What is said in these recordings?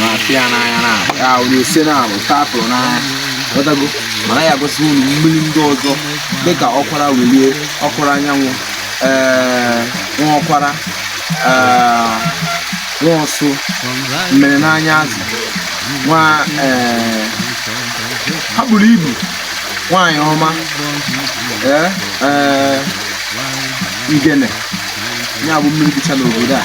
na-apị ya n'anya na ya onye ose na abụ tapụrụ n'anya ghọtago mana ya gosi unu mmiri ndị ọzọ dịka ọkwara welie ọkwara anyanwụ ee nwa ọkwara ee nwa ọsụ mmiri n'anya azụ nwa ee ha buru ibu nwaanyị ọma ee ee ngene ya bụ mmiri dịcha n'obodo a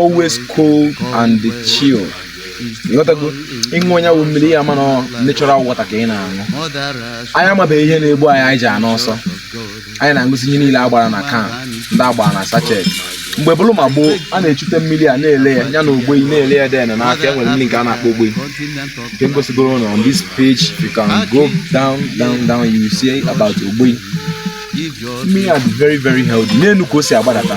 always cold and chill ịghọtago ịṅụọ nya wụ mmiri ị ya-ama na natural water ka ị na-aṅụ anyị amabeghị ihe na-egbu anyị anyị ji anwụ ọsọ anyị na-aṅụzi ihe niile a gbara na can ndị a gbara na sachet mgbe bụrụ ma gboo a na-echute mmiri a na-ele ya ya na ogbeyi na-ele ya then n'aka enwere mmiri nke a na-akpọ ogbeyi nke m gosigoro na on this page you can go down down down you see about ogbeyi mmiri a dị very very healthy n'elu ka o si agbadata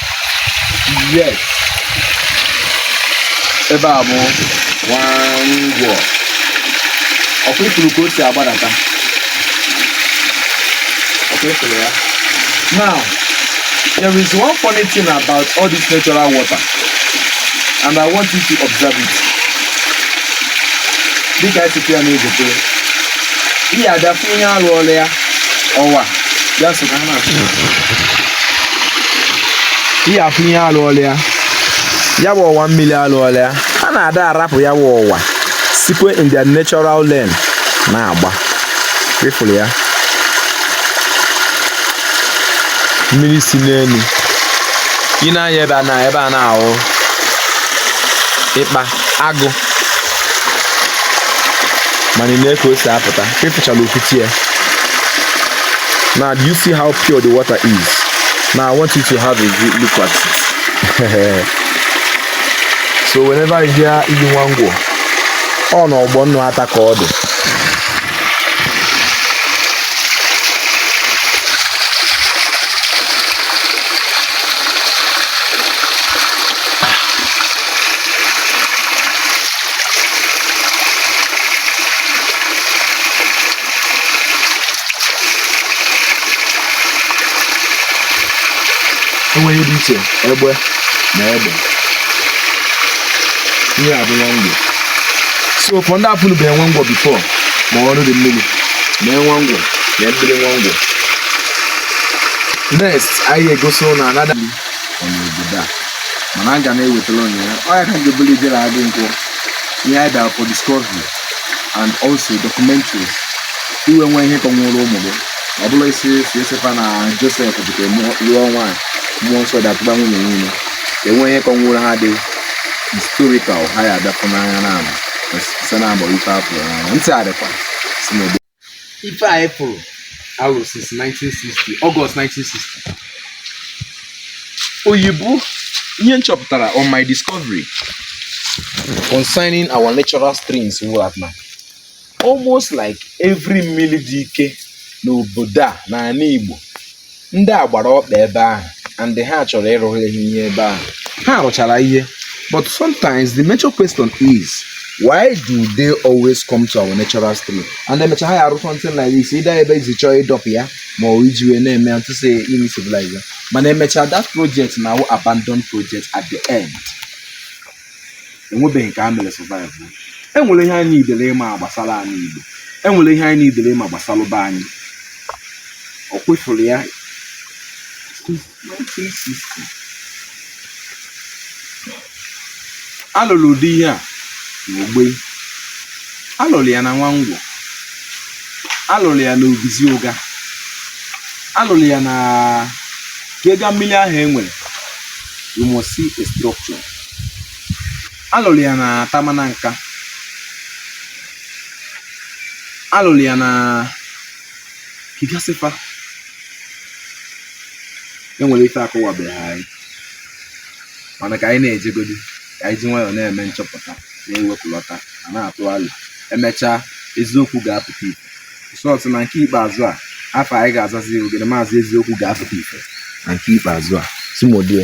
yes ebe a bụ nwangwọ ọkwa ịfụrụ ka o si agbadata ọkwa ịfụrụ ya now there is one funny thing about all this natural water and i want you to observe it dịka esite ya na-egotere ihe adafụ ihe alụọla ya ọwa ya so ka ha na-achụ ihe afụ ihe alụọla ya ya bụ ọwa mmiri alụọla ya a na-ada arapụ ya bụ ọwa sikwe in their natural lane na-agba ịfụrụ ya mmiri si n'elu ị nee anya ebe a na ebe a na-awụ ikpa agụ mana ị nee ka o si apụta ka ịfụchala okwuti ya now do you see how pure the water is now i want you to have a good look at it so whenever you hear iyi nwangwọ ọ na ọgbọ nnụ ata ka ọ dị enweghị dị iche ebe na ebe ihe a bụ nwangwọ so for ndị apụlụ bụ nwangwọ before ma ọrụ dị mmiri na nwangwọ na mmiri nwangwọ next anyị egosi unu anada ọ n'obodo a mana aga m ewetara onye ya ọ ya ka ga-ebuli ijere adị nkwụ ihe anyị bịara for discovery and also documentaries ị wee nwee ihe kọnwụrụ ụmụ gị ọ bụla isi si esefa na Josef bute lụọ nwaanyị mmụọ nsọ atụba nwunye ya ime ka e nwee ihe kọnwụrụ ha dị historical ha ya-abịa fụ n'anya na ama site na agbọ ife afọ ntị adịkwa si n'obodo ife anyị fụrụ alụ since 1960 August 1960 oyibo ihe m chọpụtara on my discovery concerning our natural streams wụ that na almost like every mmiri dị ike n'obodo a n'ala Igbo ndị a gbara ọkpa ebe ahụ and ha chọrọ ịrụghịrị ha ihe ebe ahụ ha rụchara ihe but sometimes the major question is why do they always come to our natural stream and emecha ha ya arụ something like this either ebe e si chọọ ịdọpụ ya ma ọ wụ iji wee na-eme ya to say ime civilize ya mana emecha that project na-awụ abandoned project at the end enwebeghị nke e mere survive enwere ihe anyị needịrị ịma gbasara anị Igbo enwere ihe anyị needịrị ịma gbasara be anyị ọ kwa ị fụrụ ya alụrụ ụdị ihe a na Ogbei alụrụ ya na Nwangwo alụrụ ya na Obizi Ụga alụrụ ya na ka ị gaa mmiri ahụ e nwere you must see a structure alụrụ ya na Atama Nanka alụrụ ya na ka ị gasị fa enwere ife akọwabeghị anyị mana ka anyị na-ejegodi ka anyị ji nwayọọ na-eme nchọpụta na-ewepụlọta ma na-atụ alo emechaa eziokwu ga-apụta ife sọọsọ na nke ikpeazụ a afa anyị ga-azazi ogede maazị eziokwu ga-apụta ife na nke ikpeazụ a simodie